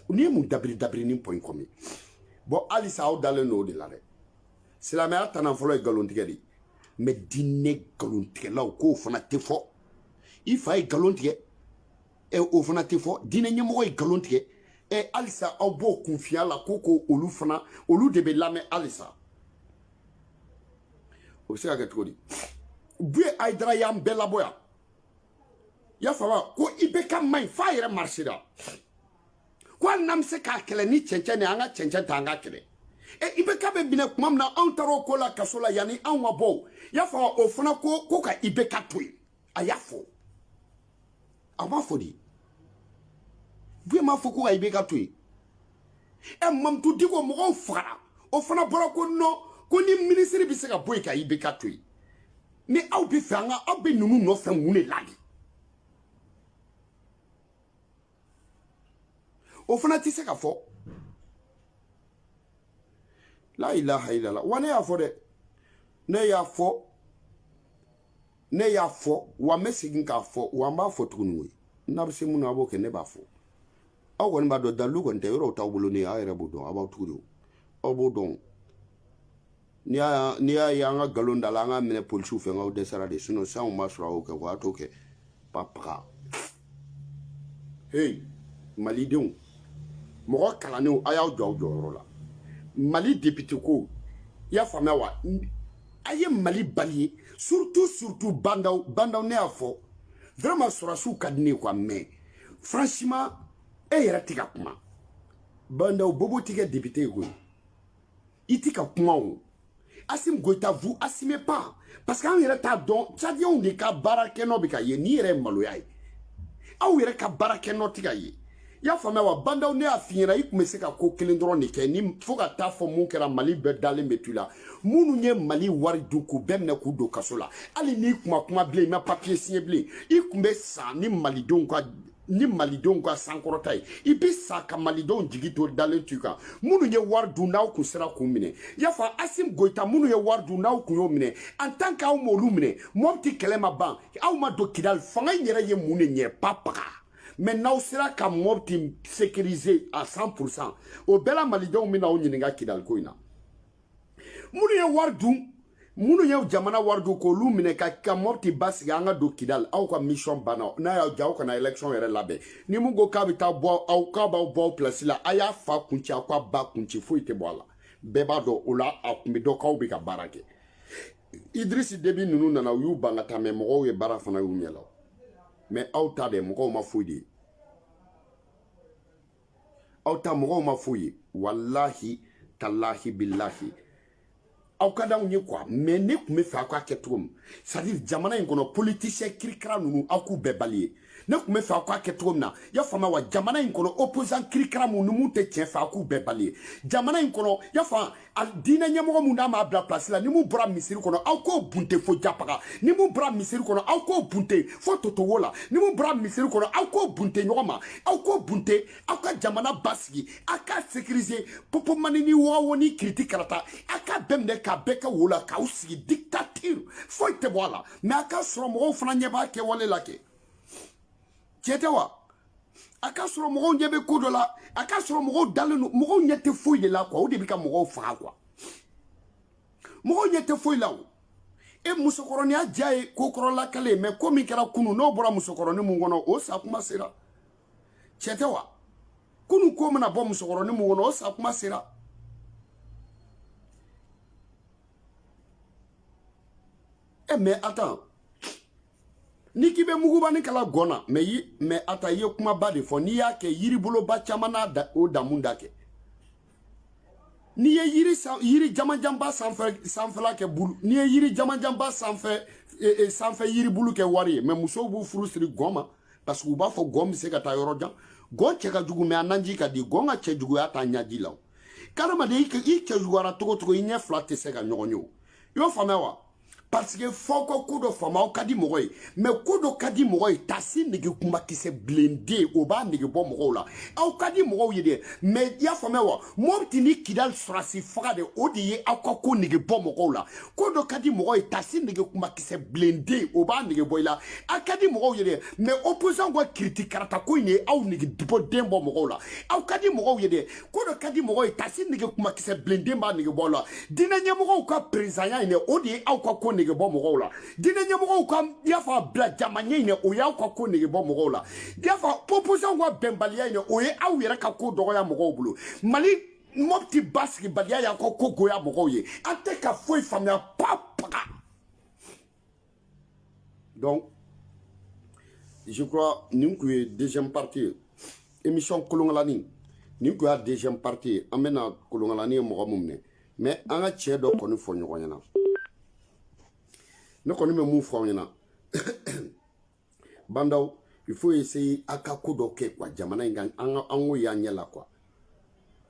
n'i ye mun dabiri dabiri ni pɔn kɔmi bɔn halisa aw dalen don o de la dɛ silamɛya tana fɔlɔ ye nkalontigɛ de mɛ diinɛ nkalontigɛlaw k'o fana tɛ fɔ i fa ye nkalon tigɛ ɛ o fana tɛ fɔ diinɛ ɲɛmɔgɔ ye nkalon tigɛ ɛ halisa aw b'o confiance la ko ko olu fana olu de bɛ lamɛn halisa o bɛ se ka kɛ cogo di buye ayidara y'an bɛɛ labɔ yan y'a faamuya ko IBK maɲi f'a yɛrɛ marisira ko hali n'an bɛ se k'a kɛlɛ ni cɛncɛn de an ka cɛncɛn ta an k'a kɛlɛ e IBK bɛ minɛ tuma min na anw taara o ko la kaso la yanni anw ka bɔ o y'a faamuya o fana ko ko ka IBK to yen a y'a fɔ. a m'a fɔ de buye m'a fɔ ko ka IBK to yen ɛ mamutu diko mɔgɔw fagara o fana bɔra ko non ko ni minisiri bɛ se ka bɔ yen ka IBK to yen ni aw bɛ fɛ an ka aw bɛ ninnu nɔfɛ mun de la de o fana tɛ se ka fɔ la ilaha illallah wa ne y'a fɔ dɛ ne y'a fɔ ne y'a fɔ wa n bɛ segin k'a fɔ wa n b'a fɔ tuguni koyi n'a bɛ se min na a b'o kɛ ne b'a fɔ aw kɔni b'a dɔn dalilu kɔni tɛ yɔrɔw t'aw bolo ne ye aw yɛrɛ b'o dɔn aw b'aw tugu de o aw b'o dɔn n'i y'a n'i y'a ye an ka nkalon d'a la an k'a minɛ polisiw fɛ n k'aw dɛsɛra de sinɔn sisan b'a sɔrɔ a y'o kɛ o y'a t'o kɛ ba paga hey malidenw mɔgɔ kalannenw a y'aw jɔ aw jɔyɔrɔ la mali depite ko i y'a faamuya wa a ye mali balayer surtout surtout bandaw bandaw ne y'a fɔ vraiment sɔrɔdasiw ka di ne ye quoi mais franchement e yɛrɛ tɛ ka kuma bandaw bobo tɛ kɛ depite ye koyi i tɛ ka kuma o asim goyita vous assumez pas parce que an yɛrɛ t'a dɔn cadiyɛnw de ka baara kɛ nɔ bɛ ka ye nin yɛrɛ ye maloya ye aw yɛrɛ ka baara kɛ nɔ tɛ ka ye i y'a faamuya wa bandaw ne y'a f'i ɲɛna i kun bɛ se ka ko kelen dɔrɔn de kɛ ni fo ka taa fɔ mun kɛra mali bɛɛ dalen bɛ to i la minnu ye mali wari dun k'u bɛɛ minɛ k'u don kaso la hali n'i kun ma kuma bilen i ma papiye siɲɛ bilen i kun bɛ sa ni malidenw ka ni malidenw ka sankɔrɔta ye i bɛ sa ka malidenw jigi to dalen to i kan minnu ye wari dun n'aw kun sera k'u minɛ y'a fɔ asim goyita minnu ye wari dun n'aw kun y'o minɛ en tant que aw m'olu minɛ mɔpti kɛlɛ ma ban aw ma don kidali fanga in yɛrɛ ye mun de ɲɛ ba paga mais n'aw sera ka mɔpti sécuriser à 100 pourcent o bɛɛ la malidenw bɛna aw ɲininka kidaliko in na minnu ye wari dun minnu ye jamana wari dun k'olu minɛ ka mɔpti basigi an ka don kidali aw ka mission banna n'a y'aw diya aw kana election yɛrɛ labɛn ni mun ko k'a bɛ taa bɔ aw k'a b'aw bɔ aw pilasi la a y'a fa kunci aw k'a ba kunci foyi tɛ bɔ a la bɛɛ b'a dɔn o la a kun bɛ dɔn k'aw bɛ ka baara kɛ idrisi debi ninnu nana u y'u ban ka taa mais mɔgɔw ye baara fana y'u ɲɛ la mais aw ta dɛ mɔgɔw ma foyi de ye aw ta mɔgɔw ma foyi ye walahi talahi bilahi aw ka d'anw ye quoi mais ne kun b'a fɛ aw k'a kɛ cogo min c'est à dire jamana in kɔnɔ politisiyɛn kirikara ninnu aw k'u bɛɛ balayer ne kun b'a fɛ aw k'a kɛ cogo min na y'a faamuya wa jamana in kɔnɔ opposant kirikara mun ni mun tɛ tiɲɛ fɛ aw k'u bɛɛ balayer jamana in kɔnɔ y'a faamu a diinɛ ɲɛmɔgɔ mun n'a m'a bila pilasi la ni mun bɔra misiri kɔnɔ aw k'o bunte fo japaga ni mun bɔra misiri kɔnɔ aw k'o bunte fo totowo la ni mun bɔra misiri kɔnɔ aw k'o bunte ɲɔgɔn ma aw k'o bunte aw ka jamana basigi aw k'a sécuriser popomani ni wɔgɔwo ni kiriti karata aw k'a bɛɛ minɛ k'a bɛɛ kɛ wo la k'aw sigi dictature foyi tɛ bɔ a la mais a ka sɔrɔ mɔgɔw fana ɲɛ b'a kɛwale la kɛ tiɲɛ tɛ wa a ka sɔrɔ mɔgɔw ɲɛ bɛ ko dɔ la a ka sɔrɔ mɔgɔw dalen don mɔgɔw ɲɛ tɛ foyi de la quoi o de bɛ ka mɔgɔw faga quoi mɔgɔw ɲɛ tɛ foyi la o e musokɔrɔninya diya ye ko kɔrɔ lakali ye mais ko min kɛra kunu n'o bɔra musokɔrɔni mun kɔnɔ o sa kuma sera tiɲɛ tɛ wa kunu ko mana bɔ musokɔrɔni mun kɔnɔ o sa kuma sera e mais attends ni k'i bɛ mugubani kala gɔn na mais mais a ta i ye kumaba de fɔ n'i y'a kɛ yiriboloba caman n'a da o damu da kɛ n'i ye yiri san yiri jamanjanba sanfɛ sanfɛla kɛ bulu n'i ye yiri jamanjanba sanfɛ e, e, sanfɛ yiribulu kɛ wari ye mais musow b'u furu siri gɔn ma parce que u b'a fɔ gɔn bɛ se ka taa yɔrɔ jan gɔn cɛ ka jugu mais a naji ka di gɔn ka cɛ juguya t'a naji la o hadamaden i cɛ juguyara cogo o cogo i ɲɛ fila tɛ se ka ɲɔgɔn ye o i y'o faamuya wa parce que fɔ ko ko dɔ faama aw ka di mɔgɔ ye mais ko dɔ ka di mɔgɔ ye tasi nege kumakisɛ bilenden o b'a nege bɔ mɔgɔw la aw ka di mɔgɔw ye dɛ mais i y'a faamuya wa mɔpti ni kidali sɔrɔsi faga de o de ye aw ka ko nege bɔ mɔgɔw la ko dɔ ka di mɔgɔ ye tasi nege kumakisɛ bilenden o b'a nege bɔ i la a ka di mɔgɔw ye dɛ mais opposant ka kiriti karata ko in de ye aw nege bɔ den bɔ mɔgɔw la aw ka di mɔgɔw ye dɛ ko dɔ ka di mɔgɔ ye tasi nege kumakisɛ bilenden b'a nege bɔ la diinɛ ɲɛmɔgɔw ka perezanya in dɛ o de ye aw ka ko nege bɔ mɔgɔw la diinɛ ɲɛmɔgɔw ka y'a fɔ a bila jama ɲɛ in dɛ o y'aw ka ko nege bɔ mɔgɔw la y'a fɔ opposant ka bɛnbaliya in dɛ o ye aw yɛrɛ ka ko dɔgɔya mɔgɔw bolo mali mɔpti basigibaliya y'aw ka ko goya mɔgɔw ye an tɛ ka foyi faamuya papaga donc je crois nin tun ye deuxième partie ye émission kolonkalani nin tun y'a deuxième partie ye an bɛna kolonkalani ye mɔgɔ mun minɛ mais an ka tiɲɛ dɔ kɔni fɔ ɲɔgɔn ɲɛna ne kɔni bɛ mun fɔ aw ɲɛna bandaw il faut essayer a ka ko dɔ kɛ quoi jamana in kan an ka an ko y'an ɲɛ la quoi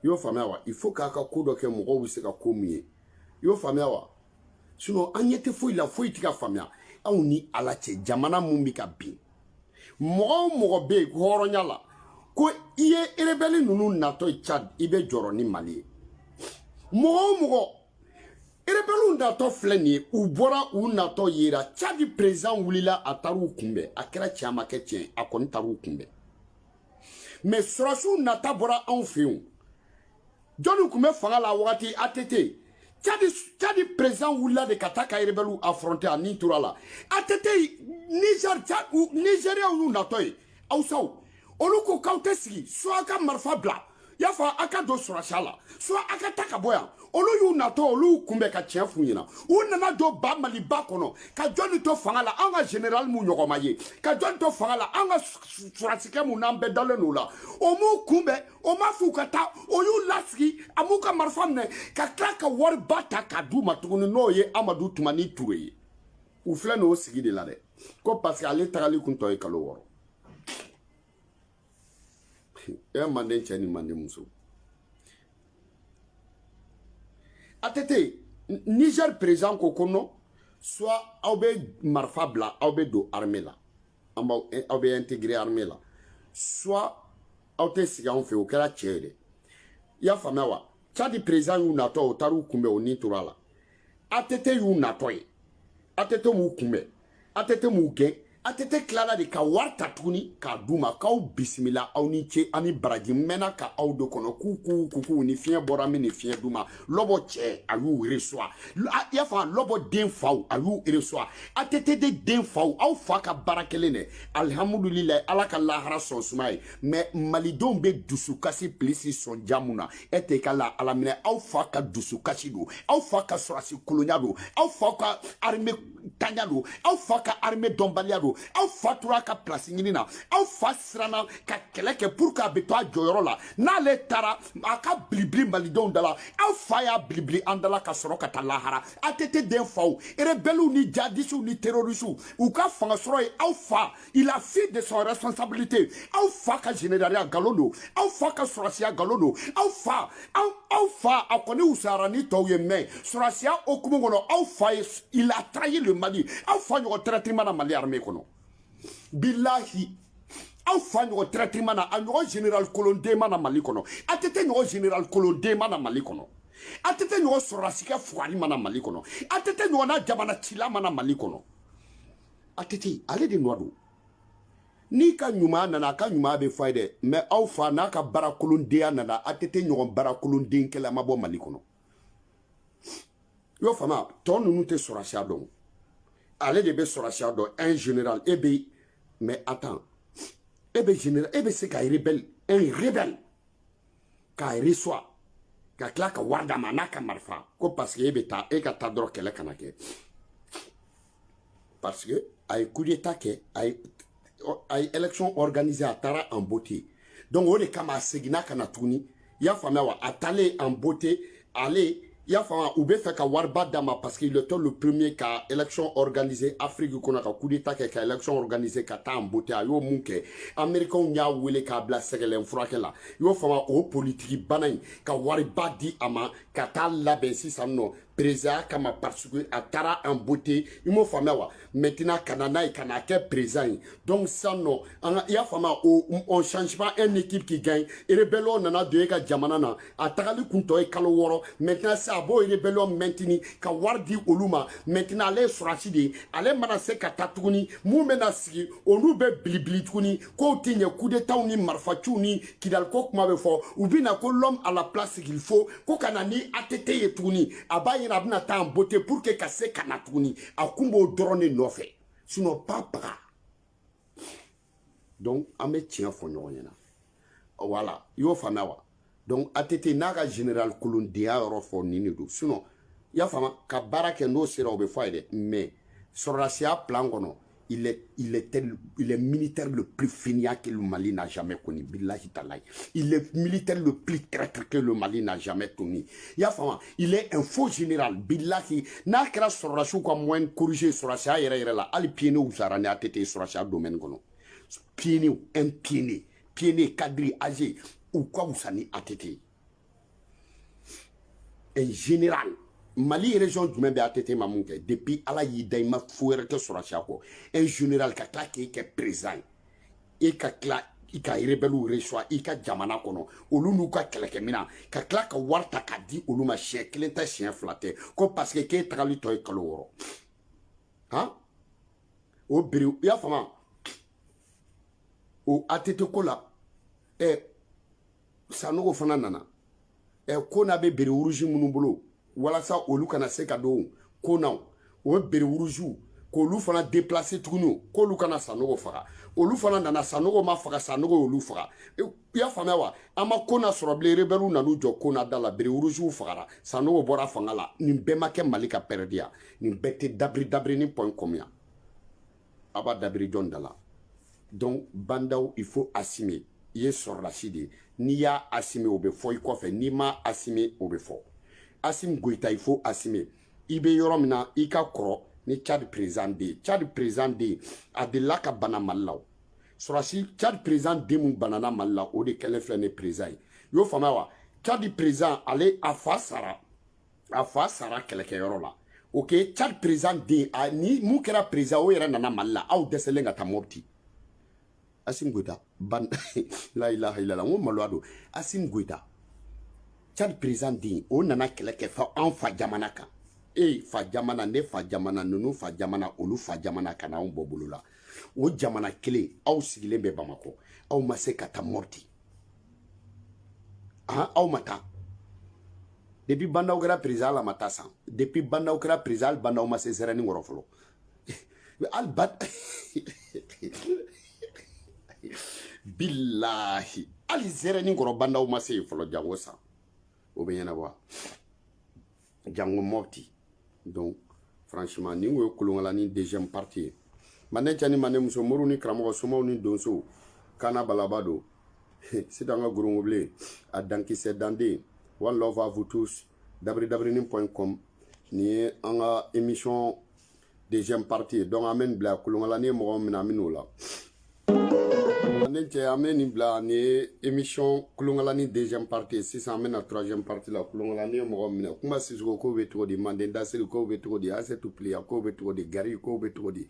i y'o faamuya wa il faut k'a ka ko dɔ kɛ mɔgɔw bɛ se ka ko min ye i y'o faamuya wa sinon an ɲɛ tɛ foyi la foyi tɛ ka faamuya anw ni ala cɛ jamana min bɛ ka bin mɔgɔ o mɔgɔ bɛ yen hɔrɔnya la ko i ye erebɛli ninnu natɔ ye cadi i bɛ jɔrɔ ni mali ye mɔgɔ o mɔgɔ erebɛliw natɔ filɛ nin ye u bɔra u natɔ yera cadi perezan wulila a taar'u kunbɛn a kɛra tiɲɛ a ma kɛ tiɲɛ a kɔni taar'u kunbɛn mais sɔrɔsiw nata bɔra anw fɛ yen jɔnni tun bɛ fanga la wagati att cadi perezan wulila de ka taa ka erebɛliw afronte a ni tor'a la att nizɛriyaw y'u natɔ ye awusaw olu ko k'aw tɛ sigi soit a ka marifa bila y'a fɔ a ka don sɔrɔsiya la soit a ka taa ka bɔ yan olu y'u natɔ olu y'u kunbɛn ka tiɲɛ f'u ɲɛna u nana don ba maliba kɔnɔ ka jɔnni to fanga la an ka général mun ɲɔgɔn ma ye ka jɔnni to fanga la an ka sɔrɔsikɛ mun n'an bɛɛ dalen don o la o m'u kunbɛn o m'a f'u ka taa o y'u lasigi a m'u ka marifa minɛ ka tila ka wariba ta k'a d'u ma tuguni n'o ye amadu tumani ture ye u filɛ n'o sigi de la dɛ ko parce que ale tagali tun tɔ ye kalo wɔɔrɔ e manden cɛ ni manden muso ATT Niger président ko ko non soit aw bɛ marifa bila aw bɛ don armée la an b'aw eh, aw bɛ intégrer armée la soit aw tɛ sigi anw fɛ o kɛra cɛ ye dɛ i y'a faamuya wa Tchad président y'u natɔ o taar'u kunbɛn o ni tora la ATT y'u natɔ ye ATT m'u kunbɛn ATT m'u gɛn ATT tilala de ka wari ta tuguni k'a d'u ma k'aw bisimila aw ni ce ani baraji mɛnna ka aw de kɔnɔ k'u k'u kukuw ni fiɲɛ bɔra min ni fiɲɛ d'u ma lɔbɔ cɛ a y'u reçoit i y'a faamu lɔbɔ den faw a y'u reçoit ATT de den faw aw fa ka baara kɛlen dɛ alihamudulilayi ala k'a lahara so sumaya mais malidenw bɛ dusukasi pilisi sɔn jamu na e tɛ ka la alaminɛ aw fa ka dusukasi don aw fa ka sɔrɔsi kolonya don aw fa ka armée tanya don aw fa ka armée dɔnbaliya don aw fa tora ka place ɲini na aw fa siranna ka kɛlɛ kɛ pour que a bɛ to a jɔyɔrɔ la n'ale taara a ka bilibili malidenw da la aw fa y'a bilibili an da la ka sɔrɔ ka taa lahara ATT den faw rebɛliw ni jadisiw ni terorisiw u ka fanga sɔrɔ ye aw fa il a fui de son responsabilité aw fa ka généraliya nkalon don aw fa ka sɔrɔsiya nkalon don aw fa aw aw fa a kɔni wusayara ni tɔw ye mais sɔrɔsiya hukumu kɔnɔ aw fa ye il a trahi le mali aw fa ɲɔgɔn traître ma na mali armée kɔnɔ bilahi aw fa ɲɔgɔn traître ma na a ɲɔgɔn général kolonden ma na mali kɔnɔ ATT ɲɔgɔn général kolonden ma na mali kɔnɔ ATT ɲɔgɔn sɔrɔdasikɛ fugari ma na mali kɔnɔ ATT ɲɔgɔn na jamana cila ma na mali kɔnɔ ATT ale de nɔ don n'i ka ɲuman nana a ka ɲuman bɛ fɔ ye dɛ mais aw fa n'a ka baarakolondenya nana ATT ɲɔgɔn baarakolonden kɛla ma bɔ mali kɔnɔ i y'o faamu tɔ ninnu tɛ sɔrɔsiya dɔn ale de bɛ sɔrɔsiya dɔn un général e bɛ mais attends e bɛ général e bɛ se ka rebelle un rebelle k'a reçoit ka tila ka wari d'a ma n'a ka marifa ko parce que e bɛ taa e ka taa dɔrɔn kɛlɛ kana kɛ parce que a ye coup d'état kɛ a ye a ye élection organisée a taara en beauté donc o de kama a seginna ka na tuguni i y'a faamuya wa a taalen en beauté ale i y'a faamuya u bɛ fɛ ka wariba d'a ma parce qu'il était le premier ka élection organisée Afrique kɔnɔ ka coup d'état kɛ ka élection organisée ka taa en beauté a y'o min kɛ américainw y'a wele k'a bila sɛgɛlɛn furakɛ la i y'o faamuya o politiki bana in ka wariba di a ma ka taa labɛn sisan nɔ présidentya kama parce que a taara en beauté i m'o faamuya wa maintenant ka na n'a ye ka n'a kɛ président ye donc sisan nɔ an ka i y'a faamuya o on change pas un équipe qui gagne rebellion nana don e ka jamana na a tagali kun tɔ ye kalo wɔɔrɔ maintenant sisan a b'o rebellion maintenir ka wari di olu ma maintenant ale ye sɔrɔsi de ye ale mana se ka taa tuguni min bɛna sigi olu bɛ bilibili tuguni kow tiɲɛ kudetaw ni marifaciw ni kidaliko kuma bɛ fɔ u bɛ na ko l'homme à la place qu'il faut ko ka na ni ATT ye tuguni a b'a ɲɛna a bɛna taa en beauté pour que ka se ka na tuguni a kun b'o dɔrɔn de nɔfɛ sinon pas baga donc an bɛ tiɲɛ fɔ ɲɔgɔn ɲɛna voilà i y'o faamuya wa donc ATT n'a ka général kolondenya yɔrɔ fɔ nin de don sinon i y'a faamu ka baara kɛ n'o sera o bɛ fɔ a ye dɛ mais sɔrɔdasiya plan kɔnɔ il est, il est, tel, il est militaire le plus fainéant que le Mali n'a jamais connu. Billahi Talay. Il est militaire le plus traître que le Mali n'a jamais connu. I y'a faamu, il est un faux général. Billahi, n'a kɛra sɔrɔdasi ka mɔgɔ corriger sɔrɔdasiya yɛrɛ yɛrɛ la. Hali pionnier wusara ni ATT sɔrɔdasiya domaine kɔnɔ. Pionnier ou un pionnier. pionnier cadre âgé u ka wusa ni ATT un général mali région jumɛn bɛ ATT ma mun kɛ depuis ala y'i da i ma fo wɛrɛ kɛ sɔrɔdasiya kɔ un général ka tila k'e kɛ président ye e ka tila i ka rebɛliw resuwa i ka jamana kɔnɔ olu n'u ka kɛlɛkɛminan ka tila ka wari ta k'a di olu ma siɲɛ kelen tɛ siɲɛ fila tɛ ko parce que k'e tagali tɔ ye kalo wɔɔrɔ han o biri i y'a faamu o ATT ko la ɛ sanogo fana nana ɛ ko n'a bɛ bere wuruzi minnu bolo walasa olu kana se ka don ko na o bere wuruziw k'olu fana deplase tuguni k'olu kana sanogo faga olu fana nana sanogo ma faga sanogo y'olu faga i y'a faamuya wa an ma kɔna sɔrɔ bilen rebɛliw nan'u jɔ kɔna da la bere wuruziw fagara sanogo bɔra fanga la nin bɛɛ ma kɛ mali ka pɛrɛdiya nin bɛɛ tɛ dabiri dabiri ni point combien a b'a dabiri jɔn da la donc ba ndaw il faut assumer i ye sɔrɔdasi de ye n'i y'a assumer o bɛ fɔ i kɔfɛ n'i ma assumer o bɛ fɔ asimi goyita il faut assumer i bɛ yɔrɔ min na i ka kɔrɔ ni cadi président den cadi président den a delila ka bana mali la o sɔrɔdasi cadi président den mun banana mali la o de kɛlen filɛ nin président ye i y'o faamuya wa cadi président ale a fa sara a fa sara kɛlɛkɛyɔrɔ la ok cad président den nin mun kɛra président o yɛrɛ nana mali la aw dɛsɛlen ka taa mɔbiti asim goyita ban la ilaha ilala n ko maloya don asim goyita cad président den o nana kɛlɛ kɛ fa an fa jamana kan e fa jamana ne fa jamana ninnu fa jamana olu fa jamana ka na anw bɔ bolo la o jamana kelen aw sigilen bɛ bamakɔ aw ma se ka taa mɔbiti han aw ma taa depuis ba ndaw kɛra président la ma taa san depuis ba ndaw kɛra président la ba ndaw ma se zɛrɛni kɔrɔ fɔlɔ hali ba bilahi hali zɛrɛni kɔrɔ ba ndaw ma se yen fɔlɔ jango san o bɛ ɲɛnabɔ wa jango mɔpti donc franchement nin ko ye kolonkalanin deuxième partie ye mande cɛ ni mande muso moriw ni karamɔgɔ somaw ni donsow kana balaba don sitan ka gorongobile a dankisɛ danden one love à vous tous dabiri dabirinin point com nin ye an ka émission deuxième partie donc an bɛ nin bila kolonkalanin mɔgɔ min na an bɛ n'o la ne cɛ an bɛ nin bila nin ye émission kolonkalanin deuxième partie sisan an bɛ na troisième partie la kolonkalanin ye mɔgɔ minɛ kuma sisiko kow bɛ cogo di manden dasiri kow bɛ cogo di asetu piliya kow bɛ cogo di gari kow bɛ cogo di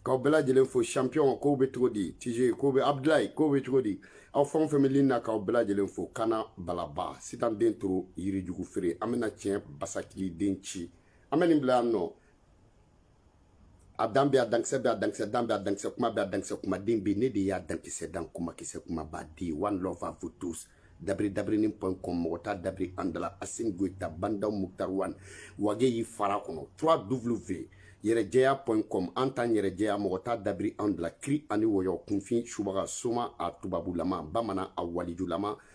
k'aw bɛɛ lajɛlen fo champion kow bɛ cogo di tije kow bɛ abdulayi kow bɛ cogo di aw fɛn o fɛn bɛ ligne na k'aw bɛɛ lajɛlen fo kana balaba sitan den toro yirijugu feere an bɛna tiɲɛ basakili den ci an bɛ nin bila yan nɔ a dan bɛ a dankisɛ bɛ a dankisɛ dan bɛ a dankisɛ kuma bɛ a dankisɛ kumaden bɛ ne de y'a dankisɛ dan kumakisɛ kumaba di one love à vous tous dabiri dabirinin point com mɔgɔ t'a dabiri an dala asimi goyita bandaw muktar wan wage y'i fara kɔnɔ 3 w yɛrɛjɛya point com an t'an yɛrɛjɛya mɔgɔ t'a dabiri an dala kiri ani wɔyɔ kunfin subaga soma a tubabulama bamanan a walijulama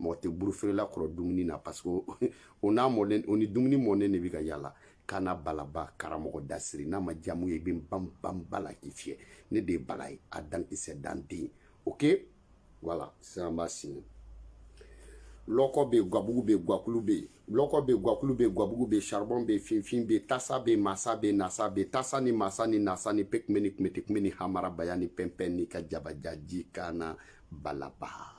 mɔgɔ tɛ burufeerela kɔrɔ dumuni na parce que o n'a mɔlen o ni dumuni mɔnen de bɛ ka yala kana balaba karamɔgɔ dasiri n'a ma jamu ye i bɛ ban ban bala k'i fiyɛ ne de ye bala ye a dankisɛ danden ok voilà sisan an b'a signer lɔkɔ bɛ yen gabugu bɛ yen guakulu bɛ yen lɔkɔ bɛ yen guakulu bɛ yen gabugu bɛ yen charbon bɛ yen finfin bɛ yen tasa bɛ yen masa bɛ yen nasa bɛ yen tasa ni masa ni nasa ni pekime ni kumete kume ni hamarabaya ni pɛnpɛn ni ka jabajaji kana balaba